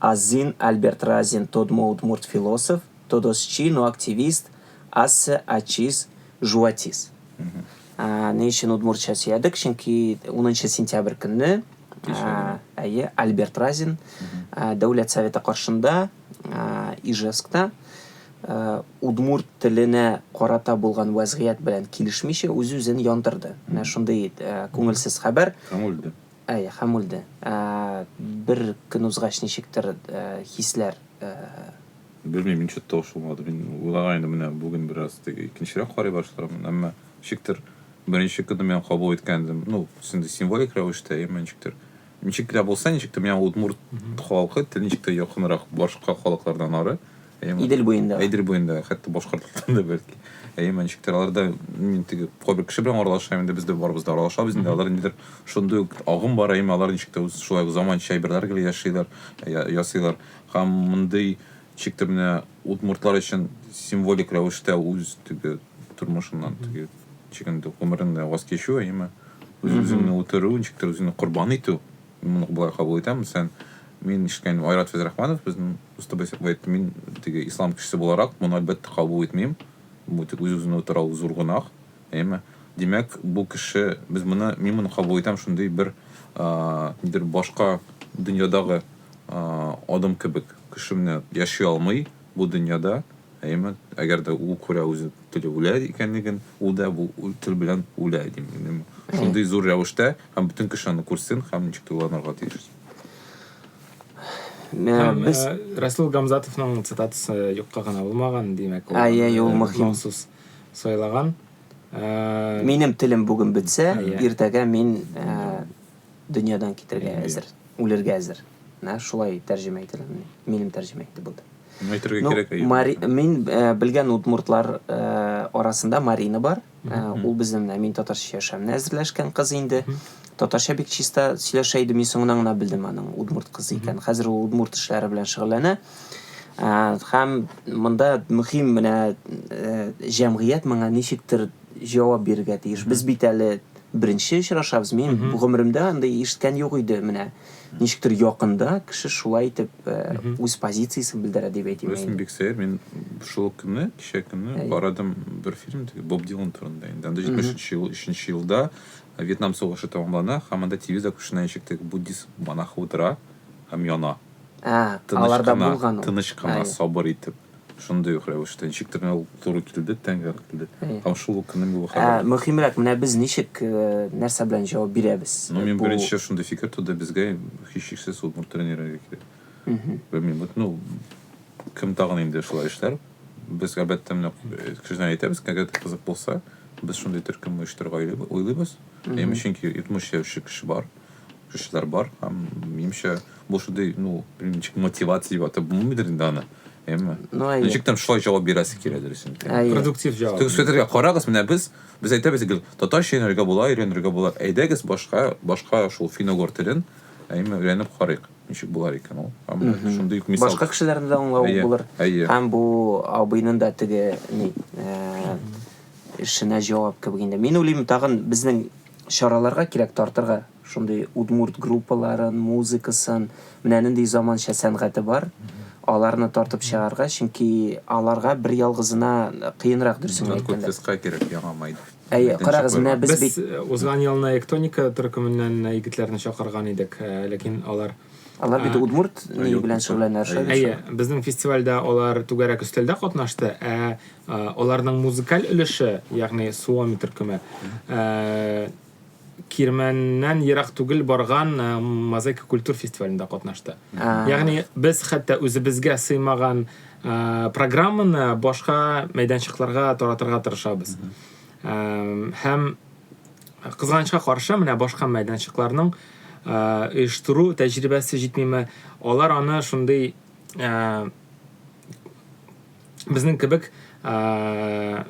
Азин Альберт Разин тодмо удмурт философ, тодосчи, но активист, асе, ачис, жуатис. Ни өчен удмуртча сөядек? Чөнки унынчы сентябрь көнне әйе, Альберт Разин Дәүләт Советы каршында Ижевскта удмурт теленә карата булган вәзгыять белән килешмичә үз-үзен яндырды. Менә шундый күңелсез хәбәр. Һәм үлде. Әй, хәм үлде. Ә бер көн узгач ничектер хисләр. Белмим, ничек тә ошамады. Мин уйлагайным, менә бүген бераз теге икенчерәк карый башлаганмын, әмма ничектер беренче көнне мин кабул иткән идем. Ну, инде символик рәвештә, әмма ничектер. Ничек тә булса, ничектер миңа удмурт халкы, тел ничек тә якынрак башка халыклардан ары. Әйе, Идел буенда. Идел буенда, хәтта Башкортстанда да бәлки. Әйе, мәнчектер аларда мин теге кайбер кеше белән аралашам, инде без дә барыбыз да аралашабыз, инде алар нидер шундый ук агым бар, әйе, алар ничек тә үз шулай ук заманча әйберләр гел яшиләр, ясыйлар. Һәм мондый ничек тә менә удмуртлар өчен символик рәвештә үз теге тормышыннан теге чигендә гомерен ваз кичү, әйеме? Үз-үзеңне үтерү, ничек тә үзеңне корбан итү. Моны болай кабул итәм, мәсәлән, мин ишеткәнем Айрат Фәйзрахманов, безнең дустыбыз әйтте, мин теге ислам кешесе буларак, моны әлбәттә кабул итмим. Бу тик үз-үзен үтерау зур гөнаһ, әйеме? Димәк, бу кеше, без моны, мин моны кабул итәм шундый бер, нидер, башка дөньядагы адым кебек, кеше менә яши алмый, Бу дөньяда, әйеме, әгәр дә ул күрә үзе тел үлә икәнлеген, ул да бу тел белән үлә, дим мин, әйеме. Шундый зур рәвештә, һәм бөтен кеше аны күрсен, һәм ничек тулыланырга тиеш. Һәм без... Расул Гамзатовның цитатасы юкка гына булмаган, димәк, ул... Әйе, ул мөһим. Махсус сайлаган. Минем телем бүген бетсә, иртәгә мин Дөньядан китәргә әзер, үлергә әзер. Менә шулай тәрҗемә ителгән. Минем тәрҗемә итеп булды. Әйтергә ну, кирәк әйе. Мари... Мин э, белгән удмуртлар э, арасында Марина бар. Э, ул безнең менә мин татарча яшәмне әзерләшкән кыз инде. Татарча бик чиста сөйләшә иде, мин соңыннан гына белдем аның удмурт кызы икән. Хәзер ул удмурт эшләре белән шөгыльләнә. Э, һәм монда мөһим менә э, җәмгыять моңа ничектер җавап бирергә тиеш. Без бит әле Беренче очрашабыз, мин гомеремдә андый ишеткән юк иде, менә ничектер якында кеше шулай итеп үз позициясен белдерә дип әйтим. Беләсең, бик сәер, мин шул ук көнне, кичә көнне карадым бер фильм, Боб Дилан турында инде. Анда 73 ел, 3 елда Вьетнам сугышы тәмамлана, һәм анда телевизор каршында ничек теге буддист монах утыра һәм яна. Ә, аларда булган ул. Тыныч кына, сабыр итеп. Шундый ук рәвештә ничек тә ул туры килде, тәңгәл килде. Һәм шул ук көнне бу хәбәр. Мөһимрәк, менә без ничек, э, нәрсә белән җавап бирәбез? Ну, мин беренче шундый фикер туды, безгә һичшиксез удмурт тренеры кирәк. Белмим, вот, ну, кем тагын инде шулай эшләр? Без әлбәттә менә э, кешедән әйтәбез, әгәр кызык булса, без шундый төркем оештырырга уйлыйбыз. Һәм чөнки 70 яшьлек кеше бар. Кешеләр бар һәм минемчә бу шундый, ну, ничек мотивация дип атап булмыйдыр инде аны. Әйме? Ну, әйе. Ничек там шулай җавап бирәсе килә дөресен. Әйе. Продуктив җавап. Тик сөтергә карагыз, менә без без әйтәбез гел, татарча өйрәнергә була, өйрәнергә була. Әйдәгез башка, башка шул финогор телен, әйме, өйрәнеп карыйк, ничек булар икән ул. Һәм шундый ук мисал. Башка кешеләрне дә аңлау Әйе, булыр. әйе. Һәм бу абыйның да теге ни, э, эшенә җавап кебек инде. Мин уйлыйм, тагын безнең Чараларга кирәк тартырга шундый удмурт группаларын, музыкасын, менә нинди заманча сәнгате бар, аларны тартып чыгарга, чөнки аларга бер ялгызына кыенрак дөресен генә әйткәндә. Ноткот СК кирәк яңа май. Әйе, карагыз, менә без бит. Без узган елны Эктоника төркеменнән егетләрне чакырган идек, ләкин алар. Алар бит удмурт ни белән шөгыльләнәләр, шулай бит? Әйе, безнең фестивальдә алар түгәрәк өстәлдә катнашты, ә Аларның музыкаль өлеше, ягъни суоми төркеме, Кирмәннән ерак түгел барган Мозаика культур фестивалендә катнашты. Ягъни без хәтта үзебезгә сыймаган программаны башка мәйданчыкларга таратырга тырышабыз. Һәм кызганычка каршы, менә башка мәйданчыкларның оештыру тәҗрибәсе җитмиме, алар аны шундый безнең кебек ә,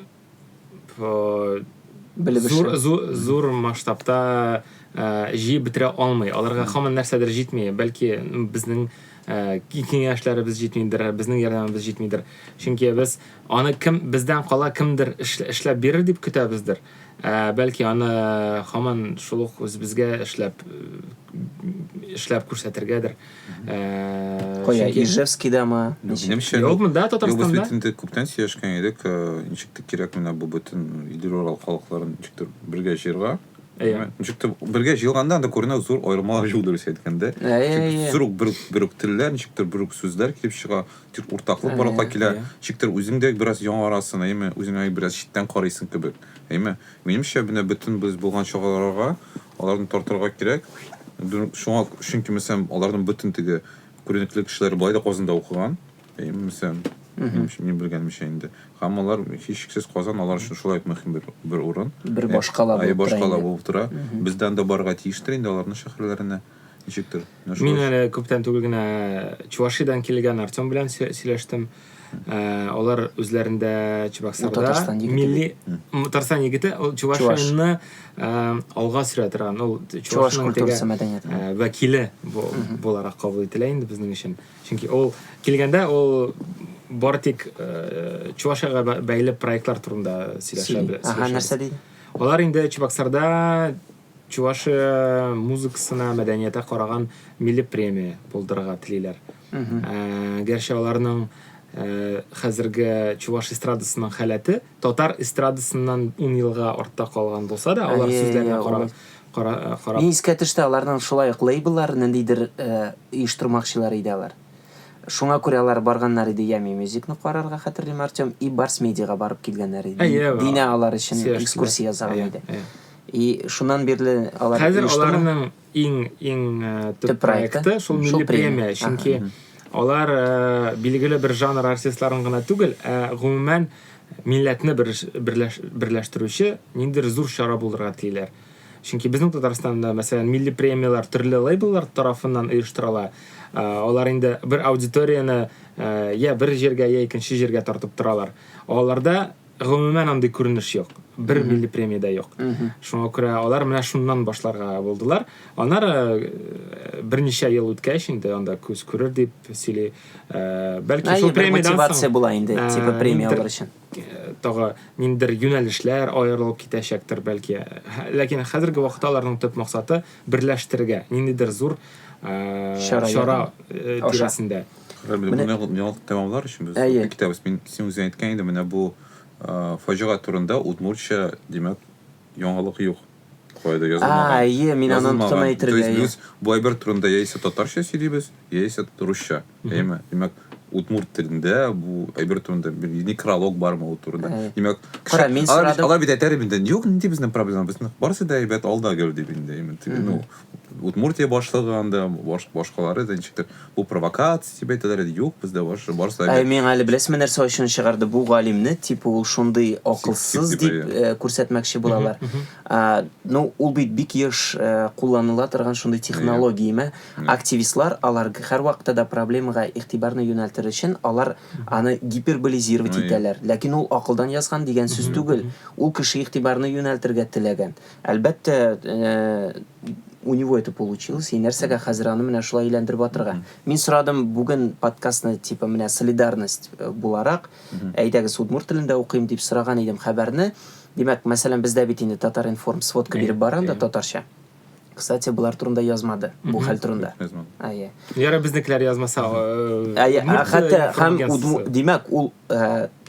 белеп зур, зур, зур масштабта ә, җыеп бетерә алмый. Аларга һаман нәрсәдер җитми. Бәлки безнең ә, киңәшләребез җитмидер, безнең ярдәмебез җитмидер. Чөнки без аны кем бездән кала кемдер эшләп бирер дип көтәбездер. Ә, бәлки аны һаман шул ук үзебезгә эшләп эшләп күрсәтергәдер. Э, Кая, чөнки... Ижевскийдамы? Минемчә, юк, монда Татарстанда. Юк, бөтен күптән сөйләшкән идек, э, ничек тә кирәк менә бу бөтен Идел Урал халыкларын ничек тә бергә җыерга. Әйе. Ничек тә бергә җыелганда анда күренә зур аермалар юк дөрес әйткәндә. Әйе. Зур бер бер телләр, ничек тә бер сүзләр килеп чыга, тик уртаклык барлыкка килә. Ничек тә үзең дә бераз яңарасың, әйеме? Үзеңә бераз читтән карыйсың кебек. Әйеме? Минемчә, менә бөтен без булган чараларга аларны тартырга кирәк. Шуңа, чөнки, мәсәлән, аларның бөтен теге күренекле кешеләре болай да Казанда укыган. Мәсәлән, мин белгәнемчә инде. Һәм алар, һичшиксез, Казан алар өчен шулай ук мөһим бер, бер урын. Бер башкала булып тора. Башкала булып тора. Бездән дә барырга тиештер инде аларның шәһәрләренә. Ничектер? Мин әле күптән түгел генә Чувашидан килгән Артем белән сөйләштем. Ә, алар үзләрендә Чебоксарда милли Татарстан егете, ул Чувашияны алга сөрә торган, ул Чуваш культурасы мәдәнияте. Ә, вәкиле бу, буларак кабул ителә инде безнең өчен. Чөнки ул килгәндә ул бар тик Чувашиягә бәйле проектлар турында сөйләшә. Ага, нәрсә ди? Алар инде Чебоксарда Чувашия музыкасына, мәдәниятә караган милли премия булдырырга телиләр. Ә, гәрчә аларның ә, хәзерге чуваш эстрадасының халәте татар эстрадасыннан ун елга артта калган булса да, алар сүзләренә карап, карап... Мин искә төште, аларның шулай ук лейбллар ниндидер ә, оештырмакчылар иде алар. Шуңа күрә алар барганнар иде Ями Мюзикны карарга, хәтерлим, Артем, и Барс Медиага барып килгәннәр иде. Динә алар өчен экскурсия ясаган иде. И шуннан бирле алар Хәзер оештымы? аларның иң иң э, төп, Төп проекты? проекты шул Шул милли премия. премия, Ага, чөнки мгм. алар э, билгеле бер жанр артистларын гына түгел, ә гомумән милләтне береш- берләш- берләштерүче ниндидер зур чара булырга телиләр. Чөнки безнең Татарстанда, мәсәлән, милли премияләр төрле лейбллар тарафыннан оештырыла. Э, Алар инде бер аудиторияне э, я бер җиргә, я икенче җиргә тартып торалар. Аларда Гомумән андый күренеш юк. Бер милли премия дә юк. Шуңа күрә алар менә шуннан башларга булдылар. Аннары э, берничә ел үткәч инде анда күз күрер дип сөйли. Э, бәлки шул премиядан соң мотивация була инде, э, типа премия алыр өчен. Тагы ниндер юнәлешләр аерылып китәчәктер бәлки. Ләкин хәзерге вакытта аларның төп максаты берләштерергә, ниндидер зур чара тирәсендә. Менә яңалык тәмамлар өчен без Әйе. китәбез. Мин син үзең әйткән идең, менә бу э, фаҗига турында удмуртча, димәк, яңалык юк. Кайда язылмаган. А, әйе, мин аны Язылмаган. оныттым әйтергә, То есть әйе. без бу әйбер турында яисә татарча сөйлибез, яисә русча. Әйеме? Димәк, удмурт телендә бу әйбер турында бер некролог бармы ул турында. Әйе. Димәк, кеше- Кара, мин алар, бит- сорадым. алар бит әйтәр инде, юк, нинди безнең проблема, безнең барысы да әйбәт, алда гел дип инде. Именно, теге, Ну, Удмуртия башлыгы анда, баш, башкалары да ничектер, бу провокация дип әйтәләр иде, юк, бездә баш, барысы да Ә гел миңа әле беләсезме нәрсә ачуны чыгарды? Бу галимне типа ул шундый акылсыз дип типа, э, күрсәтмәкче булалар. А, ну, ул бит бик еш э, кулланыла торган шундый технология име. Активистлар алар г- һәрвакытта да проблемага игътибарны юнәлтер өчен алар аны гиперболизировать Ой. итәләр. Ләкин ул акылдан язган дигән сүз түгел. Ул кеше игътибарны юнәлтергә теләгән. Әлбәттә, у него это получилось, и нәрсәгә хәзер аны менә шулай әйләндереп атырга. Мин сорадым бүген подкастны типа менә солидарность э, буларак, әйдәгез удмурт телендә укыйм дип сораган идем хәбәрне. Димәк, мәсәлән, бездә бит инде Татар информ сводка биреп бара анда татарча. Кстати, булар турында язмады. Бу хәл турында. Ае. Яра безнекеләр язмаса. Ае, хәтта һәм димәк, ул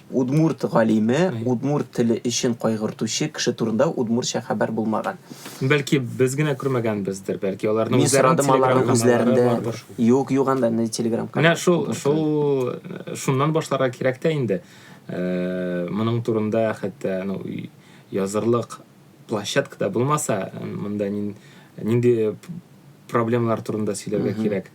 Удмурт галиме, удмурт теле өчен кайгыртучы кеше турында удмуртча хәбәр булмаган. Бәлки без генә күрмәгәнбездер, бәлки аларның Мин үзләренең сорадым телеграм аларның каналлары үзләрендә. бардыр. Юк, юк анда ни телеграм Менә канал. шул, шул, э, шуннан башларга кирәк тә инде. Э, Моның турында хәтта ну, язырлык площадка да булмаса монда нинди проблемалар турында сөйләргә кирәк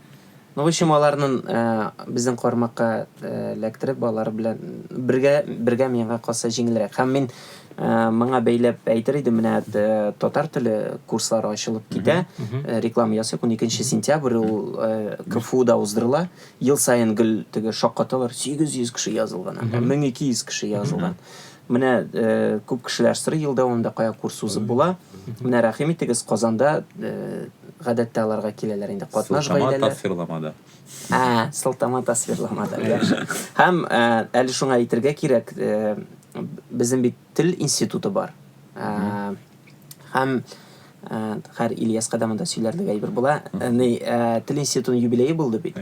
ну в общем аларны э, безнең кармакка э, эләктереп алар белән бергә бергә миңа калса җиңелрәк һәм мин э, моңа бәйләп әйтер идем менә татар теле курслары ачылып китә реклама ясыйк уникенче сентябрь ул кфуда уздырыла ел саен гел теге шаккаталар сигез йөз кеше язылган мең ике йөз кеше язылган Менә э, күп кешеләр сорый ел дәвамында кая курс узып була. Менә рәхим итегез, Казанда э, гадәттә аларга киләләр инде катнаш Сылтама гаиләләр. тасвирламада. Ә, сылтама тасвирламада. Яхшы. Һәм э, әле шуңа әйтергә кирәк, э, безнең бит тел институты бар. Э, Һәм Хәр Ильяска да монда сөйләрлек әйбер була. Ни, тел институтының юбилее булды бит.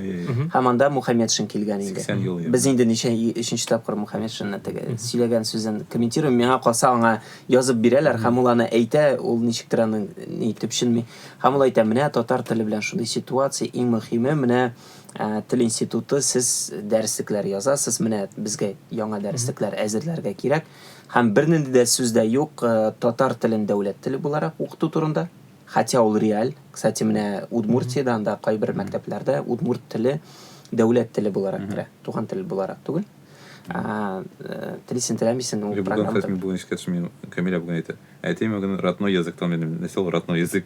Һәм анда Мухаммедшин килгән инде. Без инде ничә өченче тапкыр Мухаммедшинны теге сөйләгән сүзен комментирую миңа калса аңа язып бирәләр һәм ул аны әйтә, ул ничектер аны ни төпченми. Һәм ул әйтә, менә татар теле белән шундый ситуация, иң мөхиме менә тел институты сез дәреслекләр язасыз, менә безгә яңа дәреслекләр әзерләргә кирәк. Һәм бернинди дә сүз дә юк татар телен дәүләт теле буларак укыту турында. Хотя ул реаль. Кстати, менә Удмуртиядә анда кайбер мәктәпләрдә удмурт теле дәүләт теле буларак керә, туган тел буларак түгел. Ә, телисең, теләмисең, ул программада. Кстати, мин бүген искә төште, мин Камилә бүген әйтә. Әтием бүген родной языктан минем, нәрсә ул родной язык?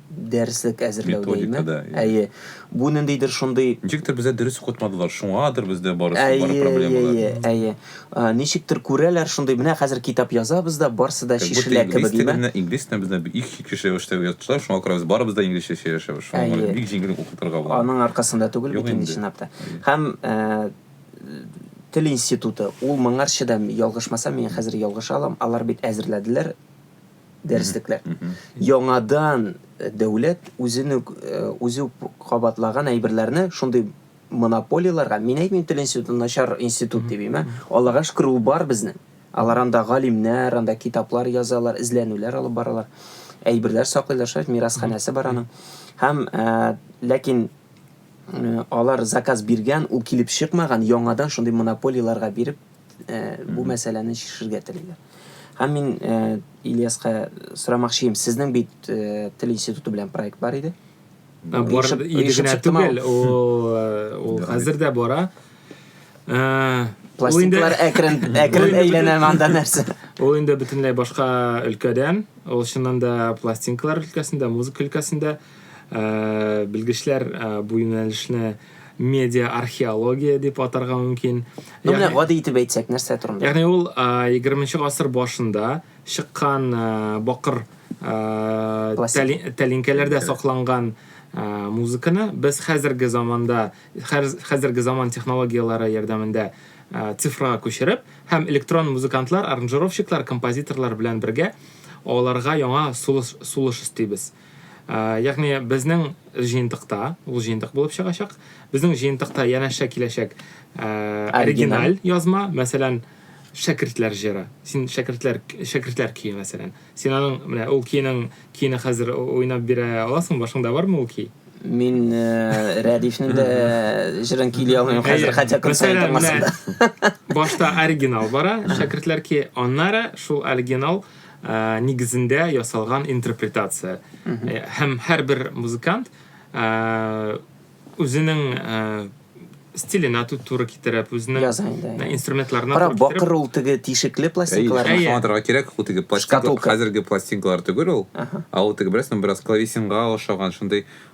дәреслек әзерләүдәйме? Методикада, иә. Әйе. Бу ниндидер шундый... Ничектер бездә дөрес укытмадылар, шуңадыр бездә барысы, бар Әйе, проблемалар. әйе, әйе. А, Ничектер күрәләр шундый, менә хәзер китап язабыз да, барсы да Как будто чишелә инглиз кебек, имә. телендә, инглиз телендә бездә бик чиксез рәвештә язучылар, шуңа күрә без барыбыз да инглизчә сөйләшәбез. Шуңа Әйе. күрә бик җиңел укытырга була. Аның аркасында түгел Юк бит инде инде. чынлап та. Әйе. Һәм э, тел институты, ул моңарчы да, ялгышмасам, мин хәзер ялгыша алам, алар бит әзерләделәр, дәреслекләр. Яңадан э, дәүләт үзен үк э, үзе үк кабатлаган әйберләрне шундый монополияләргә, мин әйтмим тел институты начар институт дип әйтмә, Аллага шөкер ул бар безнең. Алар анда галимнәр, анда китаплар язалар, эзләнүләр алып баралар. Әйберләр саклыйлар, шулай мирасханәсе бар аның. Һәм э, ләкин э, алар заказ биргән, ул килеп чыкмаган, яңадан шундый монополияләргә биреп э, бу мәсьәләне чишергә телиләр. Һәм мин э, Ильяска сорамакчы идем, сезнең бит э, тел институты белән проект бар иде. Ә, Бар Оешып- иде оешып генә чыктымы? түгел, ул э, ул хәзер дә бара. Э, ул инде- Пластинкалар әкрен, әкрен Ой, әйләнә монда нәрсә. Ул инде бөтенләй башка өлкәдән. Ул чыннан да пластинкалар өлкәсендә, музыка өлкәсендә. Белгечләр бу юнәлешне медиа-археология дип атарга мөмкин. Ну, менә гади итеп әйтсәк, нәрсә турында? Ягъни ул 20 гасыр башында чыккан бакыр тәлинкәләрдә сакланган музыканы без хәзерге заманда, хәзерге заман технологияләре ярдәмендә цифрага күчереп һәм электрон музыкантлар, аранжировщиклар, композиторлар белән бергә аларга яңа сулыш сулыш өстибез. Ягъни безнең җыентыкта, ул җыентык булып чыгачак, безнең җыентыкта янәшә киләчәк оригиналь язма, мәсәлән, шәкертләр җыры. Син шәкертләр шәкертләр көе мәсәлән. Син аның менә ул көйнең көйне хәзер уйнап бирә аласың, башыңда бармы ул көй? Мин Рәдифнең дә җырын көйли алмыйм хәзер, хәтта көн саен тыңласам да. Башта оригинал бара, шәкертләр көе, аннары шул оригинал нигезендә ясалган интерпретация. Һәм һәрбер музыкант үзенең стиленә туры китереп, үзенең инструментларына туры китереп. Кара, бакыр ул теге тишекле пластинкалар. Әйе, аңлатырга кирәк, ул теге пластинкалар, хәзерге пластинкалар түгел ул. Ә ул теге, беләсеңме, бераз клавесинга охшаган, шундый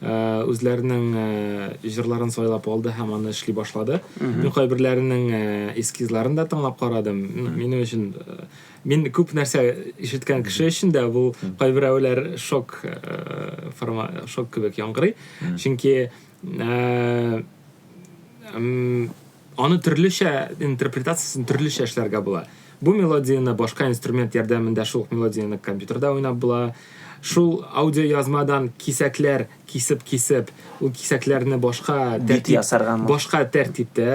үзләренең җырларын сайлап алды һәм аны эшли башлады. Мин кайберләренең эскизларын да тыңлап карадым. Минем өчен мин күп нәрсә ишеткән кеше өчен дә бу кайберәүләр шок форма шок кебек яңгырый. Чөнки Аны төрлечә интерпретациясен төрлечә эшләргә була. Бу мелодияне башка инструмент ярдәмендә шул ук мелодияне компьютерда уйнап була. Шул аудиоязмадан кисәкләр кисеп-кисеп, ул кисәкләрне башка тәртип ясарга башка тәртиптә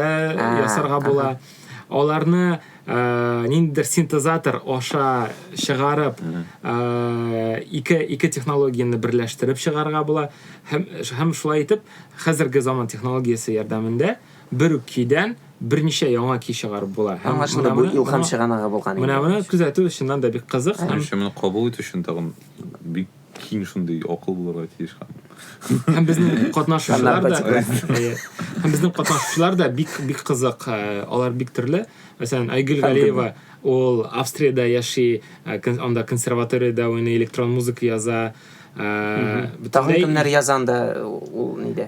ясарга була. Аларны ниндидер синтезатор аша чыгарып, ике ике технологияне берләштереп чыгарга була. Һәм һәм шулай итеп, хәзерге заман технологиясе ярдәмендә Бер үк көйдән берничә яңа көй чыгарып була. Һәм Аңлашылды, бу илһам чыганагы булган инде. Менә моны күзәтү чыннан да бик кызык һәм Менемчә, моны кабул итү өчен тагын бик киң шундый акыл булырга тиеш һәм Һәм безнең катнашучылар да Һәм безнең катнашучылар да бик бик кызык, алар бик төрле. Мәсәлән, Айгөл Галиева, ул Австриядә яши, анда консерваториядә уйный, электрон музыка яза. Тагын кемнәр язанда ул нидә?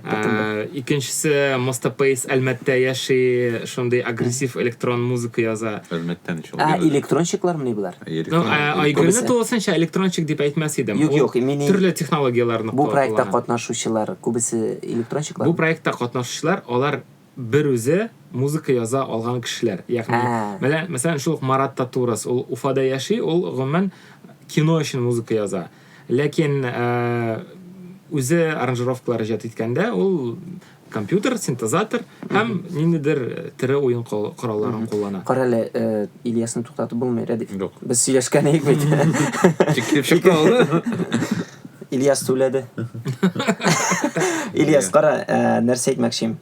Икенчесе Моста Пейс Әлмәттә яши, шундый агрессив электрон музыка яза. Әлмәттә ничек? Ә электронщиклармы булар? Айгөлне тулысынча электронщик дип әйтмәс идем. Юк, юк, мин төрле технологияләрне куллана. Бу проектта катнашучылар күбесе электронщиклар. Бу проектта катнашучылар алар бер үзе музыка яза алган кешеләр. Ягъни, менә, мәсәлән, шул ук Марат Татурас, ул Уфада яши, ул, гомумән, кино өчен музыка яза. Ләкин үзе аранжировкалар иҗат иткәндә, ул компьютер, синтезатор һәм ниндидер тере уен коралларын куллана. Кара әле, Ильясны туктатып булмый, Рәдиф. Без сөйләшкән идек бит. Тик килеп чыкты ул. Ильяс түләде. Ильяс, кара, ә, нәрсә әйтмәкче идем.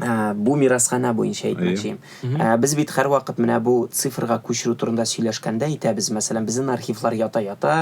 Ә, бу мирасханә буенча әйтмәкче идем. Ә, без бит һәрвакыт менә бу цифрга күчерү турында сөйләшкәндә әйтәбез, мәсәлән, безнең архивлар ята-ята,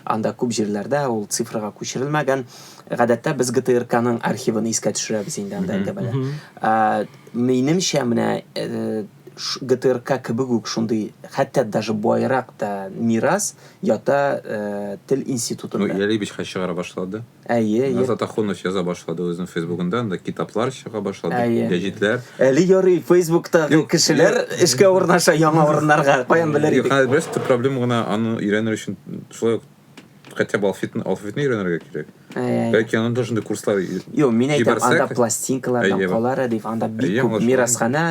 анда күп җирләрдә ул цифрга күчерелмәгән. Гадәттә без ГТРКның архивын искә төшерәбез инде анда әңгәмәдә. Ә, минемчә, менә, э, ГТРК кебек үк шундый, хәтта даже баерак та мирас ята тел институтында. Ну, Ярый Бичкач чыгара башлады. Әйе, әйе. Назат Ахунов яза башлады үзенең фейсбугында, анда китаплар чыга башлады, Әйе. гәҗитләр. Әле ярый, фейсбуктагы Юк, кешеләр юк. эшкә урнаша яңа урыннарга, каян белер Юк, идек. хәзер бераз төп проблема гына аны өйрәнер өчен шулай ук хотя бы алфавитны, алфавитны өйрәнергә кирәк. Бәлки анда да шундый курслар Юк, мин әйтәм, анда пластинкалардан кала рәдиф, анда бик күп мирасханә,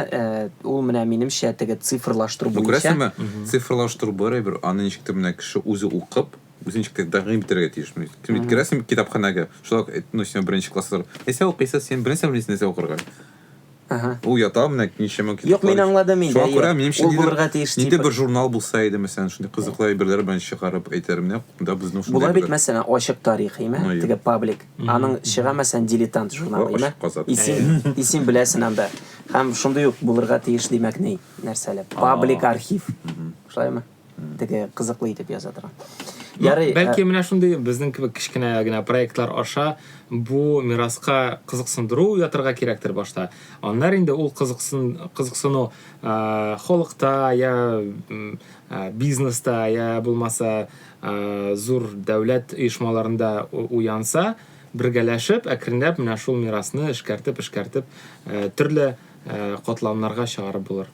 ул менә минемчә теге цифрлаштыру буенча. Ну, күрәсеңме, цифрлаштыру бер әйбер, аны ничек тә менә кеше үзе укып, үзе ничек тә тәкъдим итәргә тиеш. Кем керәсең китапханәгә, шулай ук, ну, син беренче класслар. Нәрсә укыйсыз син? Беренче белмисең нәрсә укырга. Ага. Ул ята, менә ничәмә китаплар. Юк, мин аңладым инде. Шуңа күрә, минемчә, ул булырга тиеш. Нидер бер журнал булса иде, мәсәлән, шундый кызыклы әйберләр белән чыгарып әйтер, менә монда безнең шундый. Була бит, мәсәлән, Ачык тарих, име? Теге паблик. Аның чыга, мәсәлән, Дилетант журналы, име? Ачык казат. Исем, исем беләсен анда. Һәм шундый ук булырга тиеш, димәк, ни, нәрсәле? Паблик архив. Шулаймы? теге кызыклы итеп яза торган ярый бәлки менә шундый безнең кебек кечкенә генә проектлар аша бу мираска кызыксындыру ятырга кирәктер башта аннар инде ул кызыксын кызыксыну халыкта я бизнеста я булмаса зур дәүләт оешмаларында уянса бергәләшеп әкренләп менә шул мирасны эшкәртеп эшкәртеп төрле катламнарга чыгарып булыр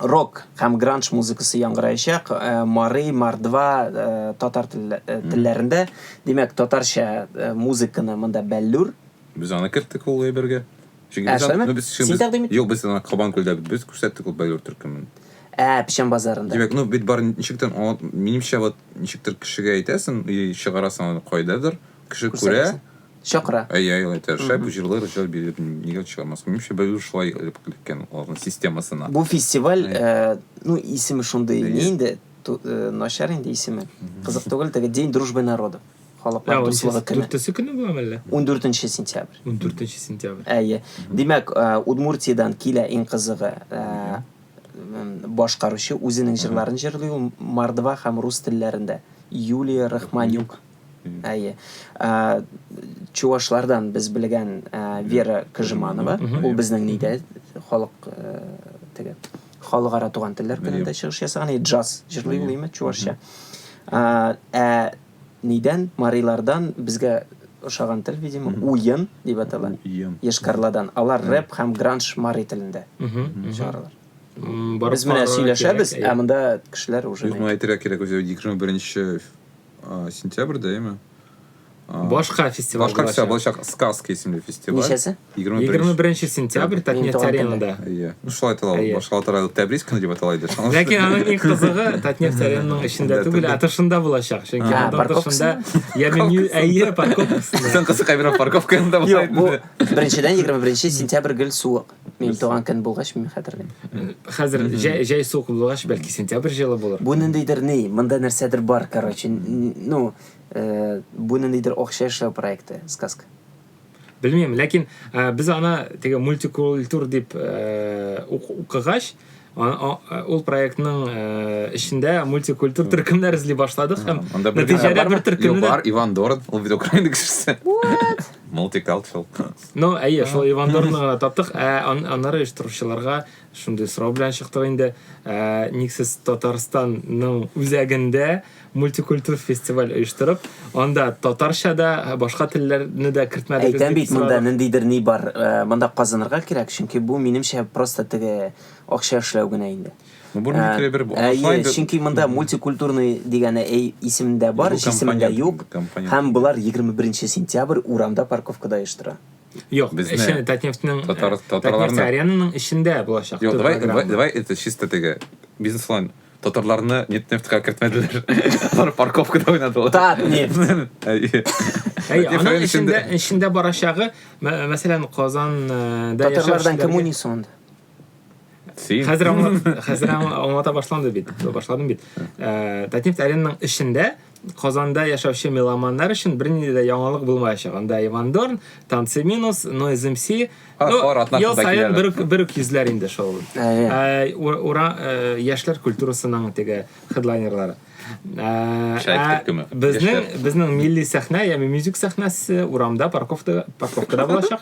рок һәм гранж музыкасы яңгыраячак э, мары мордва э, татар э, телләрендә димәк татарча музыканы монда бәллүр без аны керттек ул әйбергә син тәкъдим юк без аны кабан күлдә без күрсәттек ул бәллүр төркемен ә печән базарында димәк ну бит бар ничектер минемчә вот ничектер кешегә әйтәсең и чыгарасың аны кайдадыр кеше күрә чакыра. Әйе, әйе, алай тырыша. Бу җырлы режиссер биреп нигә чыгармаска? Минемчә, бәлки ул шулай эләккән аларның системасына. Бу фестиваль, ну, исеме шундый, ни инде, начар инде исеме. Кызык түгел, теге День дружбы народов, халыклар дуслыгы көне. Дүртесе көне буламы әллә? Ундүртенче сентябрь. Ундүртенче сентябрь. Әйе. Димәк, Удмуртиядән килә иң кызыгы, башкаручы үзенең җырларын җырлый ул мордва һәм рус телләрендә, Юлия Рахманюк. Әйе. Ә, чувашлардан без белгән ә, Вера Кыжманова, ул безнең нидә халык ә, теге халыкара туган телләр көнендә чыгыш ясаган, и джаз җырлый ул име чувашча. Ә, ә нидән марилардан безгә ошаган тел, видимо, уен дип атала. Уен. Ешкарладан. Алар рэп һәм гранж мари телендә чыгаралар. Без менә сөйләшәбез, ә монда кешеләр уже. Юк, моны әйтергә кирәк, үзе Дикжон беренче Ә, сентябрьдә яме. Башка фестиваль. Башка фестиваль булачак Сказки исемле фестиваль. Ничәсе? 21 сентябрь Татнефть аренада. Әйе. Ну шулай атала, башка атала Тәбриз көне дип атала иде. Ләкин аның иң кызыгы Татнефть аренаның эчендә түгел, ә тышында булачак. Чөнки аның тышында яме әйе парковкасы. Исән кызы кабина парковкасында була. Беренчедән 21 сентябрь гел суык. Мин Без- туган көн булгач, мин хәтерлим. Хәзер җәй, җәй суык булгач, бәлки сентябрь җылы булыр. Бу ниндидер ни, монда нәрсәдер бар, короче. Н- Ну, э, бу ниндидер акча эшләү проекты, сказка. Белмим, ләкин э, без аны теге мультикультур дип э, ук- укыгач, ул проектның эчендә э, мультикультур төркемнәр эзли башладык һәм нәтиҗәдә бер төркемне бар иван дорн ул бит украина кешесе мультикалчел ну әйе шул иван дорнны гына таптык ә аннары оештыручыларга шундый сорау белән чыктык инде э, никсез татарстанның үзәгендә мультикультур фестиваль оештырып, анда татарча да, башка телләрне дә кертмәдегез Әйтәм бит, монда ниндидер ни бар, э, монда казынырга кирәк, чөнки бу минемчә просто теге акча эшләү генә инде. Ну, бу микро бер бу. Әйе, чөнки монда мультикультурный дигәне әй исемдә бар, исемендә юк. Һәм булар 21 сентябрь урамда парковкада оештыра. Юк, безне. Эшне Татнефтьнең татарларның аренаның эчендә булачак. Юк, давай, давай, давай это чисто теге бизнес-план. Татарларны Нетнефтька кертмәделәр. Алар парковкада уйнадылар. Татнефть. Әй, аның эчендә эчендә барачагы, мәсәлән, Казан э, да Татарлардан кем уйный соң Син. Хәзер аңлата башланды бит. Башладым бит. Э, Татнефть аренның эчендә Казанда яшәүче меломаннар өчен бернинди дә яңалык булмаячак. Анда Иван Дорн, Танцы минус, Noise MC. А, Ну, хор атнасында ел саен киләләр. бер үк- бер үк йөзләр инде шул. Әйе. Ә, ур- ура, ә, яшьләр культурасының теге хедлайнерлары. Ә, Шәйх ә төркеме. Безнең Яшьләр. безнең милли сәхнә, яме мюзик сәхнәсе урамда парковкада парковкада булачак.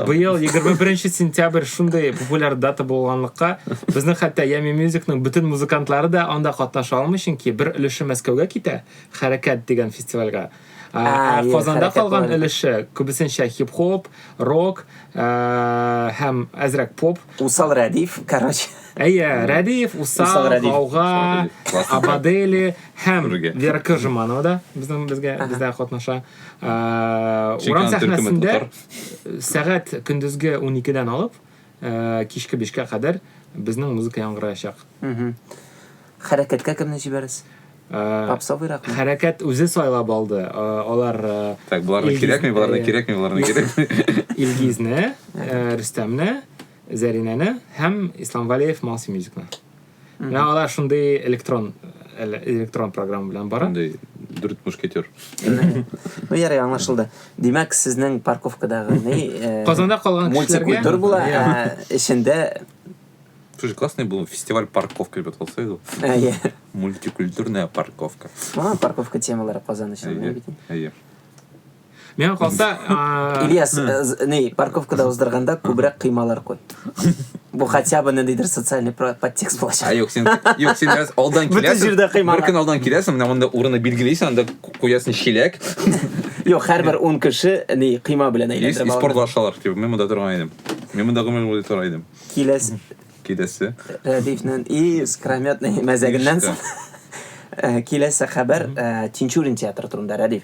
быел егерме беренче сентябрь шундый популяр дата булганлыкка безнең хәтта ями мюзикның бөтен музыкантлары да анда катнаша алмый чөнки бер өлеше мәскәүгә китә хәрәкәт дигән фестивальгә ә казанда калган өлеше күбесенчә хип хоп рок һәм әзрәк поп усал рәдиф короче әйе рәдиф усал гауга абадели һәм вера кыжиманова да безнең безгә бездә катнаша Урам сәхнәсендә сәгать көндезге 12-дән алып, кичке 5-кә кадәр безнең музыка яңгыраячак. Хәрәкәткә кемне җибәрәс? Попсовыйракмы? Хәрәкәт үзе сайлап алды. Алар Так, боларны кирәкми, боларны кирәкми, боларны кирәкми. Илгизне, Рөстәмне, Зәринәне һәм Ислам Валеев Малси Мьюзикны. Менә алар шундый электрон электрон программа белән бара. Шундый дүрт мушкетер. Ну, ярый, аңлашылды. Димәк, сезнең парковкадагы ни? Э, Казанда калган кешеләргә мультикультур була, ә эчендә Слушай, классный был фестиваль парковка, ребят, вот сойду. Мультикультурная парковка. Ага, парковка темалары Казан өчен. Әйе, әйе. Миңа калса, Ильяс, э, ни, парковкада уздырганда күбрәк кыймалар куй. Бу хотя бы ниндидер социальный подтекст булачак. А юк, син юк, син раз алдан киләсең. Бөтен җирдә кыймалар. Бер көн алдан киләсең, менә монда урыны билгелисең, анда куясың чиләк. Юк, һәрбер 10 кеше ни кыйма белән әйләндерә. Спорт башлар, типа, мин монда торган идем. Мин монда гомер буе торган идем. Киләс. Киләсе. Рәдифнен и скрометный мәзәгеннән соң. Э, киләсе хәбәр э, Тинчурин театры турында, Рәдиф.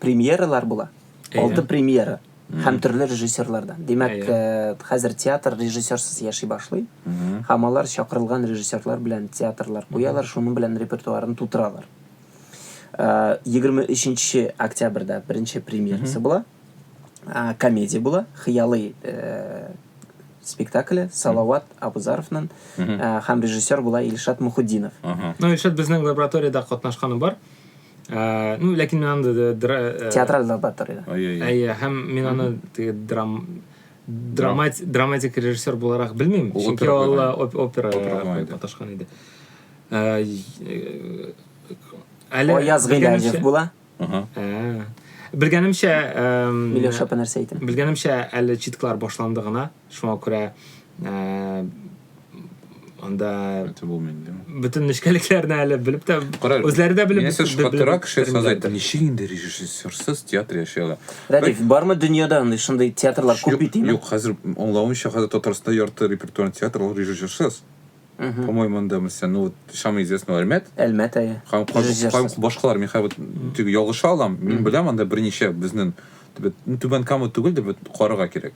премьералар була. Алты премьера һәм төрле режиссерлардан. Димәк, э, хәзер театр режиссерсыз яши башлый. Һәм алар чакырылган режиссерлар белән театрлар куялар, шуның белән репертуарын тутыралар. 23 э, октябрьдә беренче премьерасы була. Э, комедия була, Хыялый спектакле Салават Абузаровның һәм режиссер була Илшат Мухуддинов. Ну, Илшат безнең лабораториядә катнашканы бар. Ә, ну, ләкин мин анда да дра... э, Театраль залда тор иде. Ай, ай, ай. Әйе, һәм мин аны теге драм драмат драматик режиссер буларак белмим, Ул чөнки опера ул куйган. оп- опера Опера куйган иде. маташкан иде. Ә, э, Әле Аяз белгәнемчә- Гыйләҗев була. Ага. Ә, Белгәнемчә, эм, Миләүшә нәрсә әйтә? белгәнемчә әле читклар башланды гына. Шуңа күрә анда это булмый инде бөтен нечкәлекләрне әле белеп тә үзләре дә белеп менә шкатыра кеше создать ничек инде режиссерсыз театр яши ала радик бармы дөньяда андый шундый театрлар күп бит инде юк хәзер аңлавымча хәзер татарстанда ярты репертуарный театр ул режиссерсыз по моему анда мисля ну вот самый известный әлмәт әлмәт әйе һәм башкалар мин хәзер ялгыша алам мин беләм анда берничә безнең түбән кама түгел дип карарга кирәк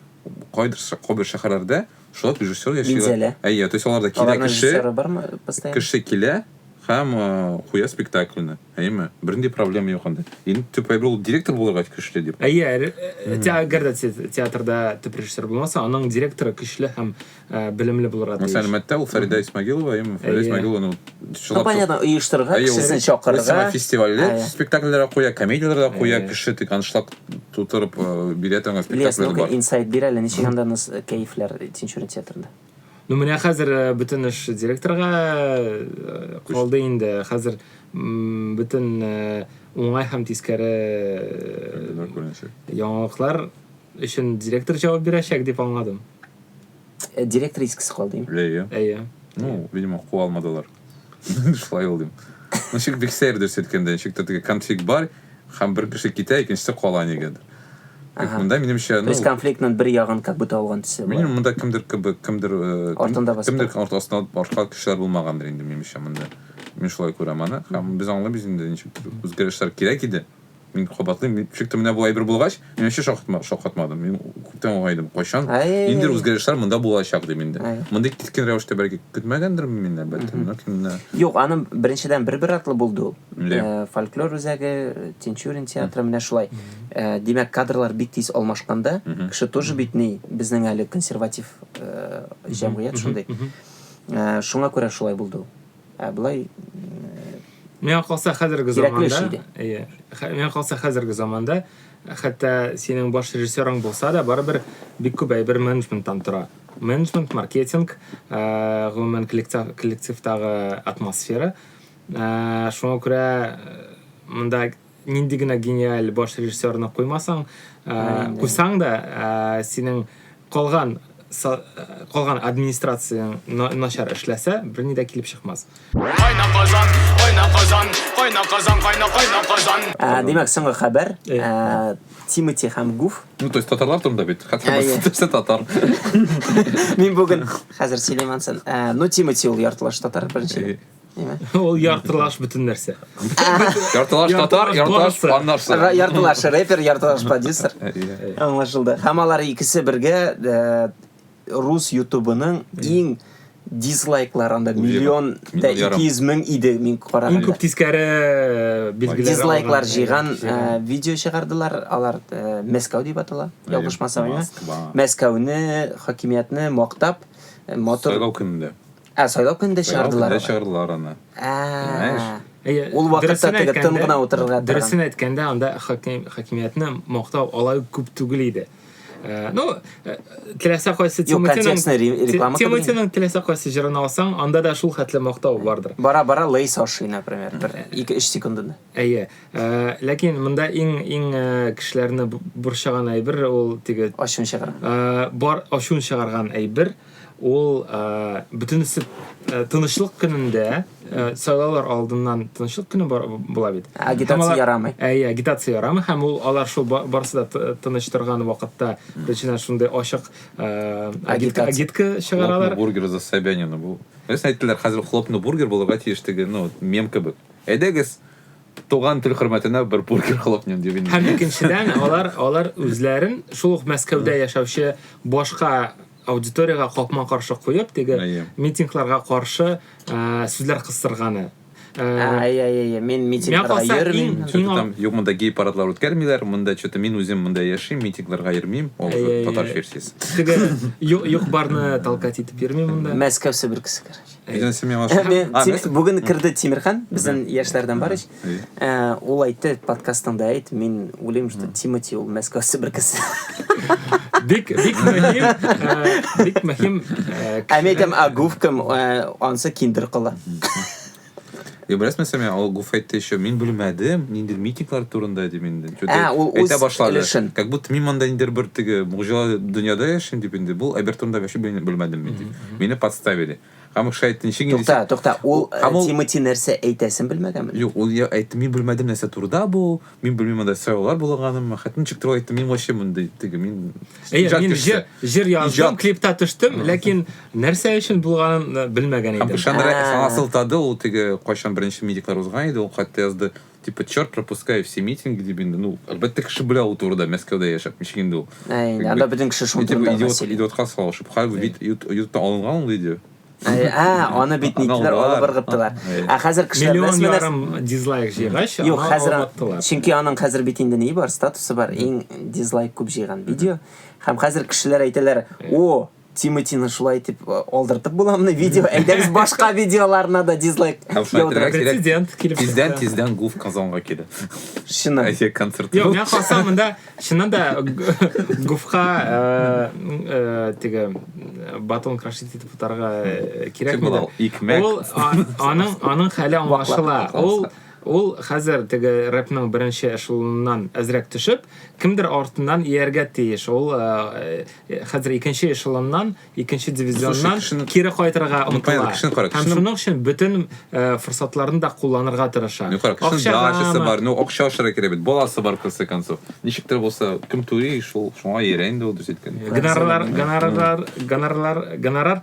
Кайдыр ша- кайбер шәһәрләрдә шулай ук режиссер яши. Минзәлә. Әйе, то есть аларда килә Аларның кеше, режиссеры бармы постоянно? кеше килә һәм э, куя спектакльне, әйеме? Бернинди проблема юк анда. Иң төп әйбер ул директор булырга көчле дип. Әйе, әле- э, те- әгәр дә те- театрда төп режиссер булмаса, аның директоры көчле һәм Ә, белемле булырга тиеш. Мәсәлән, мәттә ул Фәридә Исмагилова, яме Фәридә Исмагилова, ну, Ну, понятно, оештырырга, кешесен чакырырга. Сама фестивальдә спектакльләр куя, комедияләр дә куя, кеше тик аншлаг тутырып э, бирә торган спектакльләр бар. Инсайт бир әле, ничек анда нас э, кәефләр Тинчурин театрында? Ну, менә хәзер э, бөтен эш директорга калды инде. Хәзер бөтен уңай һәм тискәре яңалыклар Өчен директор җавап бирәчәк дип аңладым. Э, директор искесе калды. Әйе. Әйе. Ну, видимо, куа алмадылар. Шулай ул дим. Ничек бик сәер дөрес әйткәндә, ничектер теге конфликт бар, һәм бер кеше китә, икенчесе кала нигәдер. Ага. Монда минемчә, ну, То есть конфликтның бер ягын как будто алган төсе бар. Минем монда кемдер кебек, кемдер э, кем- Артында басып кемдер тора. арт- астына алып арка кешеләр булмагандыр инде минемчә монда. Мин шулай күрәм аны. Һәм без аңлыйбыз инде ничектер үзгәрешләр кирәк иде. Мин кабатлыйм, мин ничек тә менә бу әйбер булгач, мин вообще шаккатма, шаккатмадым. Мин күптән уңай идем. Кайчан Әй. ниндидер үзгәрешләр монда булачак дим инде. Әй. Мондый кискен рәвештә бәлки көтмәгәндермен мин, әлбәттә, Мгм. ләкин менә Юк, аны беренчедән бер-бер артлы булды ул. Ле. Э, Фольклор үзәге, Тинчурин театры, менә шулай. Э, Димәк, кадрлар бик тиз алмашканда, Мгм. кеше тоже бит ни, безнең әле консерватив э, җәмгыять шундый. Мгм, мгм. Э, Шуңа күрә шулай булды ул. ә былай миңа калса хәзерге заманда иә миңа калса хәзерге заманда хәтта синең баш режиссерың булса да барыбер бик күп әйбер менеджменттан тора менеджмент маркетинг ә, гомумән коллектив, коллективтагы атмосфера ә, шуңа күрә монда нинди генә гениаль баш режиссерны куймасаң, ә, куйсаң да, ә, синең калган калган администрацияң начар эшләсә, берни дә килеп чыкмас. Кайна Казан, кайна Казан, кайна Казан, кайна кайна Казан. Ә, димәк, соңгы хәбәр. Ә, Тимати һәм Гуф. Ну, то есть татарлар турында бит. Хәтта берсе татар. Мин бүген хәзер сөйләмәнсен. Ә, ну, Тимати ул яртылаш татар беренче. Ул яртылаш бөтен нәрсә. Яртылаш татар, яртылаш аннарсы. Яртылаш репер, яртылаш продюсер. Аңлашылды. Һәм алар икесе бергә э, рус ютубының иң дизлайклар анда миллион да 200 мең иде мин караганда. Иң күп тискәре э, билгеләр. Дизлайклар җыйган э, видео чыгардылар. Алар Мәскәү дип атала. Ялгышмасам, Мәскәүне, хакимиятне мактап, мотор. Сайлау көнендә. Ә сайлау көнендә Сайлау чыгардылар. көнендә чыгардылар аны. Знаешь? Ә. Әйе, Ул вакытта дөресен теге тын әйткәндә- гына утырырга торган. Дөресен әйткәндә, анда хаким, хакимиятне мактау алай ук күп түгел иде. Э, Ну, э, теләсә кайсы Юк, Тимутиның- контекстны ре- Ти- реклама кылдым. Тимутиның теләсә кайсы җырын алсаң, анда да шул хәтле мактау бардыр. Бара-бара Лейс ашый, например, бер 2-3 секундында. Әйе. Э, Ләкин монда иң иң э, кешеләрне бу- борчыган әйбер ул теге Ачуын чыгарган. э, бар ачуын чыгарган әйбер Ул бөтенесе тынычлык көнендә, сайлаулар алдыннан тынычлык көне була бит. Агитация ярамый. Әйе, агитация ярамый һәм ул алар шул барысы да тыныч торган вакытта теченә шундый ачык агитка чыгаралар. Бургер за Собянина бу. Без әйттеләр, хәзер хлопны бургер булырга тиеш диге, ну, мем кебек. Әйдәгез, туган тел хөрмәтенә бер бургер хлопнем дип инде. Һәм икенчедән, алар алар үзләрен шул ук Мәскәүдә яшәүче башка аудиторияга капма-каршы куеп, теге митингларга каршы сүзләр кыстырганы. Әйе-әйе, мин митингларга йөрмим. Там юк монда гей парадлар үткәрмиләр, монда что-то мин үзем монда яшим, митингларга йөрмим, ул татар версиясе. Теге юк барны толкать итеп йөрмим монда. Мәскәү себеркесе, короче. Бүген керде Тимирхан, безнең яшьләрдән бар ич. Э, ул әйтте подкастыңда әйт мин уйлыйм что тимати ул мәскәү себер кеше бик бик мөһим э, бик мөһим э, ә мен әйтәм а гуф кем анысы киндер кыла Е, беләсең мәсәлән, ул Гуф әйтте еще, мин белмәдем, ниндер митинглар турында дим инде. Ә, ул үз әйтә башлады. Өлешен. Как будто мин монда ниндер бер теге муҗизалы дөньяда яшим дип инде. Бу әбер турында вообще белмәдем мин дип. Мине подставили. Һәм шулай әйтте, ничек инде... Тукта, тукта, ул Һәм ул- Тимати нәрсә әйтәсен белмәгәнме? Юк, ул я әйтте, мин белмәдем нәрсә турыда бу, мин белмим анда сайлаулар булганымы, хәтта ничек тора әйтте, мин вообще мондый теге, мин Әйе, иҗат мин кешесе. җыр, җыр яздым, Иҗат. клипта төштем, ләкин нәрсә өчен булганын да белмәгән Һәм идем. Шандра Ә. саңа сылтады, ул теге кайчан беренче митинглар узган иде, ул хәтта язды, Типа, черт, пропускай все митинги дип инде. Ну, әлбәттә, кеше белә ул турыда, Мәскәүдә яшәп, ничек инде ул. Әй, инде, анда бөтен кеше шул турыда гына сөйли. Идиотка салышып, хәл бит ютубта алынган ул видео. А, аны бит ниттеләр, алып ыргыттылар. Ә хәзер кешеләр Миллион ярым дизлайк җыйгач, Юк, хәзер чөнки аның хәзер бит инде ни бар, статусы бар, иң дизлайк күп җыйган видео. Һәм хәзер кешеләр әйтәләр, "О, Тимотины шулай итеп э, алдыртып буламыни видео? Әйдәгез башка видеоларына да дизлайк Һәм шулай яудырып. итәргә кирәк. Прецедент килеп Тиздән чыкты. тиздән Гуф Казанга килә. Чыннан. Әйе, концерт. Йо, мен калсам мында чыннан да г- гуфка э, э, теге э, батон крашить итеп утарга э, Кем кирәкмидер. була ул? Икмәк. Ул а- аның аның хәле аңлашыла. Ваклап Ул калса. Ул хәзер теге рэпның беренче эшелоныннан әзрәк төшеп, кемдер артыннан ияргә тиеш. Ул э, э, хәзер икенче эшелоннан, икенче дивизионнан кешене... кире кайтырга ну, омтыла. Кешене кара, кешене... Һәм шуның өчен бөтен э, форсатларын да кулланырга тырыша. Ну, кара, кешене дачасы бар, ну, акча ашыра кирәк бит, баласы бар, конце концов. Ничектер булса, кем түли, шул, шуңа иярә инде ул, дөрес әйткән. Гонорар, гонорар, гонорар, гонорар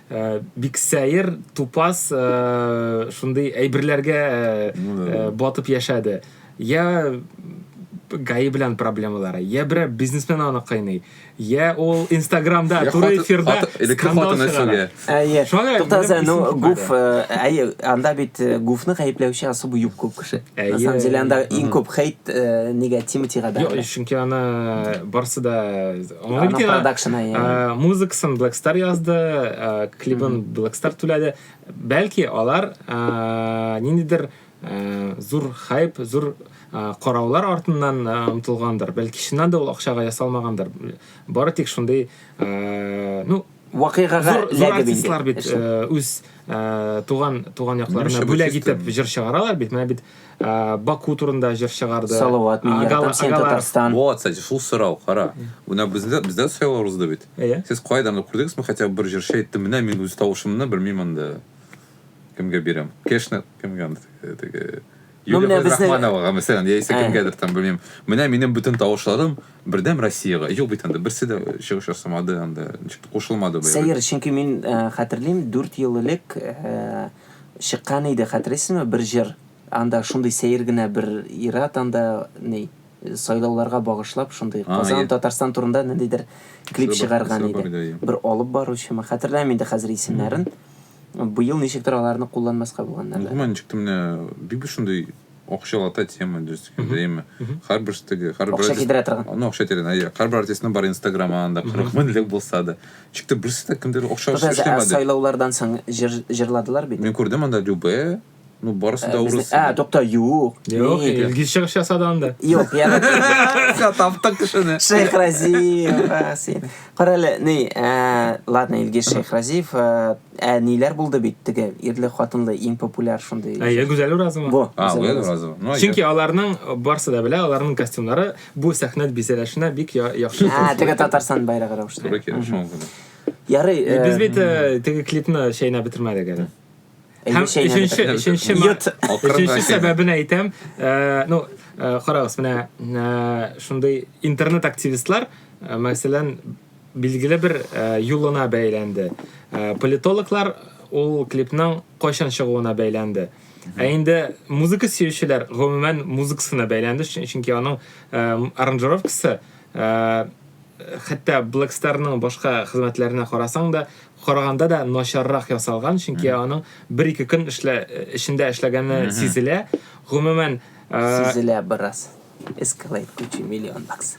Э, бик сәер тупас э, шундый әйберләргә э, батып яшәде я гаи белән проблемалары я берәр бизнесмен аны кыйный я ул инстаграмда туры эфирда скандал чыгара әйе туктаса ну гуф әйе анда бит гуфны гаепләүче особо юк күп кеше на самом деле анда иң күп хейт негатив тигәдә чөнки аны барсы да Аны Ана бит продакшена, э, иә. э, музыкасын Black Star язды, э, клибын Black Star түләде. Бәлки алар э, ниндидер э, зур хайп, зур э, караулар артыннан э, омтылгандыр. Бәлки чыннан да ул акчага ясалмагандыр. Бары тик шундый, э, ну, вакыйгага зур, зур артистлар бит ә, үз ә, туган туган якларына бүләк итеп җыр чыгаралар бит менә бит ә, баку турында җыр чыгарды салават мин яратам сен татарстан вот кстати шул сорау кара менә бездә бездә сайлау узды бит иә сез кайдан күрдегезме хотя бы бер җырчы әйтте менә мин үз тавышымны белмим анда кемгә бирәм конечно кемгә теге Ну, Юлия менә безнең- Габдрахмановага, мәсәлән, яисә Ә. кемгәдер там, белмим, менә минем бөтен тавышларым бердәм Россиягә. Юк бит анда, берсе дә чыгыш ясамады анда, ничектер кушылмады быел. Сәер, чөнки мин э, хәтерлим, дүрт ел элек э, чыккан иде, хәтерлисезме, бер җыр. Анда шундый сәер генә бер ир-ат анда ни, э, сайлауларга багышлап шундый А, Казан, е. Татарстан турында ниндидер клип Исеме бар- чыгарган исеме бар иде. иде, е. Бер алып баручымы, хәтерләмим инде хәзер исемнәрен. Быел ничектер аларны кулланмаска булганнар да. Гомумән ничектер менә бик бер шундый акчалата тема дөрес әйткәндә, әйеме? Һәрбер штыгы, һәрбер Акча китерә торган. Ну, акча тирән, әйе. Һәрбер артистның бар Инстаграм анда 40 меңлек булса да. Ничектер берсе дә кемдер акча эшләмәде. Сайлаулардан соң җырладылар бит. Мин күрдем анда Любэ. Ну, барысы да урыс. Ә, тукта, юк. Юк, Илгиз чыгыш ясады анда. Юк, яна. Все, таптык кешене. Шейх Разиев, син. Карале, ни, э, ладно, Илгиз Шейх Разиев, э, ә ниләр булды бит теге ирле хатынлы иң популяр шундый. Әйе, Гүзәл Уразова. Бу. А, Гүзәл Уразова. Ну, Чөнки аларның барсы да белә, аларның костюмнары бу сәхнә бизәлешенә бик яхшы. А, теге Татарстан байрагы рәвешле. Туры килеш шуңгы. Ярый. Без бит теге клипны шәйнәп бетермәдек әле. Һәм өченче, өченче, өченче сәбәбен әйтәм, э, ну, э, карагыз, менә э, шундый интернет активистлар, мәсәлән, билгеле бер юлына бәйләнде. Политологлар ул клипның кайчан чыгуына бәйләнде. Ә инде музыка сөючеләр гомумән музыкасына бәйләнде, чөнки аның э, аранжировкасы э, хәтта Black Star-ның башка хезмәтләренә карасаң да, караганда да начаррак ясалган, чөнки аның бер-ике көн эшлә, эчендә эшләгәне сизелә. Гомумән, сизелә бераз. Escalade куча миллион бакс.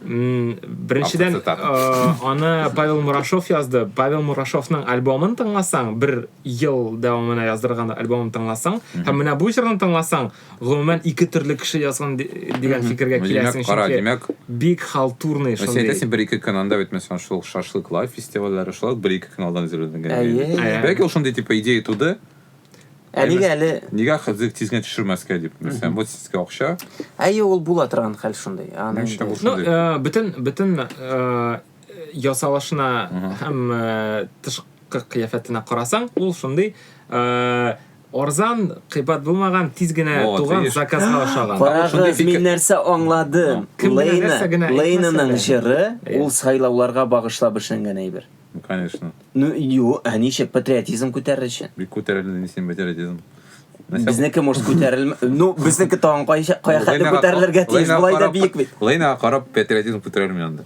Беренчедән, аны Павел Мурашов язды. Павел Мурашовның альбомын тыңласаң, бер ел дәвамына яздырган альбомын тыңласаң, һәм менә бу җырны тыңласаң, Гомумән, ике төрле кеше язган ди- дигән фикергә Ну, димәк, киләсең, кара, чөнки димәк, бик халтурный син шундый. әйтәсең, бер-ике көн анда бит, мәсәлән, шул ук шашлык лайф фестивальләре, шулай ук бер-ике көн алдан әзерләнгән. Әйе. иде. Әйе. Бәлки ул шундый типа идея туды, Ә нигә әле... нигә хәзер тиз генә төшермәскә дип, мәсәлән, вот сезгә акча, Әйе, ул була торган хәл шундый. Аны Мин инде- шәп Ну, Шундый. э, бөтен, бөтен э, ясалышына Мгм. һәм э, тышкы кыяфәтенә карасаң, ул шундый э, Арзан, кыйбат булмаган, тиз генә туган, заказга ошаган. Карагыз, мин нәрсә аңладым. Лейна, Лейнаның җыры, ул сайлауларга багышлап эшләнгән әйбер. Ну, конечно. Ну, ю, ә ничек, патриотизм күтәрер өчен. Бик күтәрелде, ни син патриотизм. Безнеке, может, күтәрелмә... Ну, безнеке тагын кая хәтле күтәрелергә тиеш, болай да биек бит. Лейнаға карап, патриотизм күтәрелми анда.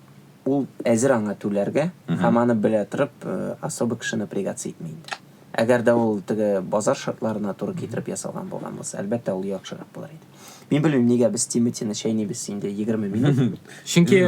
Ул әзер аңа түләргә һәм аны белә торып, особо кеше напрягаться итми инде. Әгәр дә ул теге базар шартларына туры китереп ясалган булган булса, әлбәттә, ул яхшырак булыр иде. Мин белмим, нигә без Тимотины чәйнибез инде егерме минут. Чөнки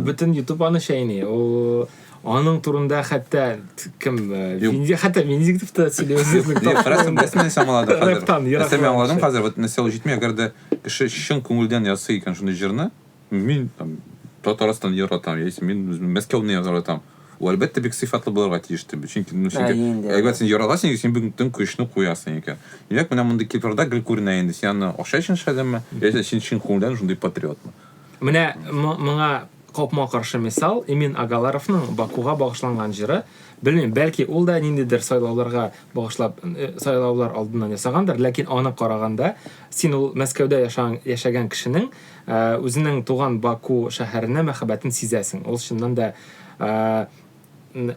бөтен YouTube аны чәйни. Ул аның турында хәтта кем хәтта Венедиктов та сөйли үзе. Карасаң, нәрсә нәрсә аңлады хәзер. Нәрсә мин аңладым хәзер, вот нәрсә ул җитми, әгәр дә кеше чын күңелдән ясый икән шундый җырны, Мин там Татарстан яратам, яисә мин Мәскәүне яратам. Ул әлбәттә бик сыйфатлы булырга тиеш дип. Чөнки ну синең әгәр син яратасың икән, син бүген көчне куясың икән. Димәк, менә мондый Кипрда гел күренә инде. Син аны акча өчен эшләдеңме? Яисә син чын күңелдән шундый патриотмы? Менә моңа капма каршы мисал Эмин Агаларовның Бакуга багышланган җыры. Белмим, бәлки ул да ниндидер сайлауларга багышлап э, сайлаулар алдыннан ясагандыр, ләкин аны караганда син ул Мәскәүдә яшаган, яшәгән кешенең Ә, үзенең туган Баку шәһәренә мәхәббәтен сизәсең. Ул чыннан да ә,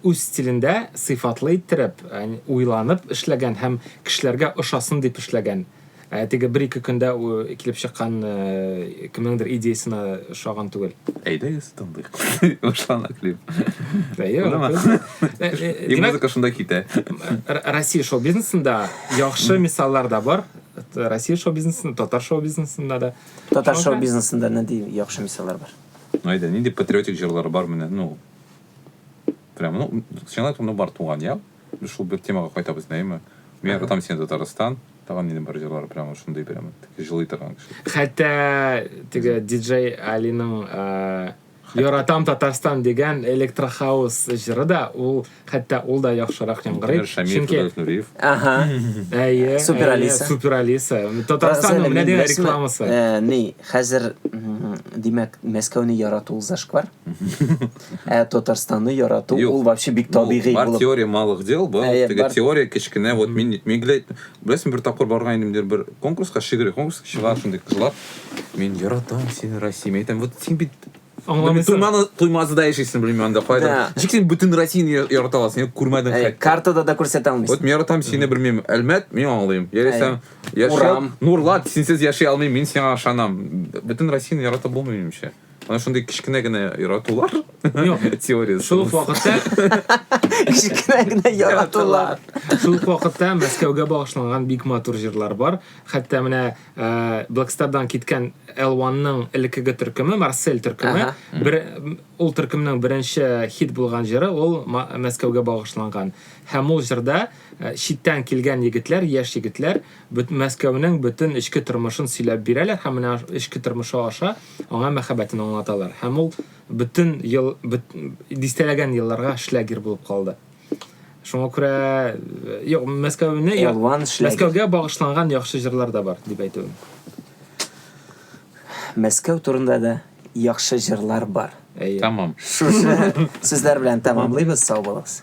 үз стилендә сыйфатлы иттереп, ә, уйланып эшләгән һәм кешеләргә ошасын дип эшләгән. Ә, теге бер-ике көндә килеп чыккан ә, кемнеңдер идеясына ошаган түгел. Әйдәгез, тыңлыйк. Башлана клип. Әйе, И музыка шунда китә. Россия шоу-бизнесында яхшы мисаллар да бар. Россия шоу-бизнесында, татар шоу-бизнесында да. Татар шоу бизнесында нинди яхшы мисаллар бар? Айда, нинди патриотик җырлар бар менә, ну, прям, ну, сиңа ну, бар туган, я? Шул бер темага кайтабыз, нәйме? Мин катам сине Татарстан, тагын нинди бар җырлар, прям шундый прям, жылый торган кеше. Хәтта, теге диджей Алиның, Яратам Татарстан дигән электрохаус җыры да ул хәтта ул да яхшырак яңгырый. Чөнки Нуриев. Ага. Әйе. Супер Алиса. Супер Алиса. Татарстан менә дигән рекламасы. Э, ни, хәзер димәк Мәскәүне ярату зашквар. Ә Татарстанны ярату ул вообще бик табигый булып. Бар теория малых дел был. Теге теория кечкенә вот мин мигләт Беләсең, бер тапкыр барган идем дер бер конкурска, шигырь конкурс чыга шундый кызлар. Мин яратам сине, Россия. Мин әйтәм, вот син бит Аңламыйсың. Туйманы, туймазыда яшисең, белмим анда кайда. Да. Ничек син бүтән Россияне я- ярата аласың? Син күрмәдең Әй, хәтта. картада да күрсәтә алмыйсың. Вот мин яратам сине, белмим, Әлмәт, мин аңлыйм. Яисә яшәп, Урам. Нурлат, синсез яши алмыйм, мин сиңа ышанам. Бүтән Россияне ярата булмый минемчә. Ана шундый кечкенә генә яратулар. Юк. Теориясы. Шул ук вакытта Кечкенә генә яратулар. Шул ук вакытта Мәскәүгә багышланган бик матур җырлар бар. Хәтта менә э, Блэкстардан киткән L1-ның элеккеге төркеме, Марсель төркеме, Ага. бер, ул төркемнең беренче хит булган җыры ул Ма- Мәскәүгә багышланган. Һәм ул җырда э, читтән килгән егетләр, яшь егетләр бөт- Мәскәүнең бөтен эчке тормышын сөйләп бирәләр һәм менә аш- эчке тормышы аша аңа мәхәббәтен аңлаталар, һәм ул бөтен ел, бөт, дистәләгән елларга шлягер булып калды. Шуңа күрә э, юк, Мәскәүне Мәскәүгә багышланган яхшы җырлар да бар, дип әйтүем. Мәскәү турында да яхшы җырлар бар. Әйе. Тамам. Шушы сүзләр белән тәмамлыйбыз, сау булыгыз.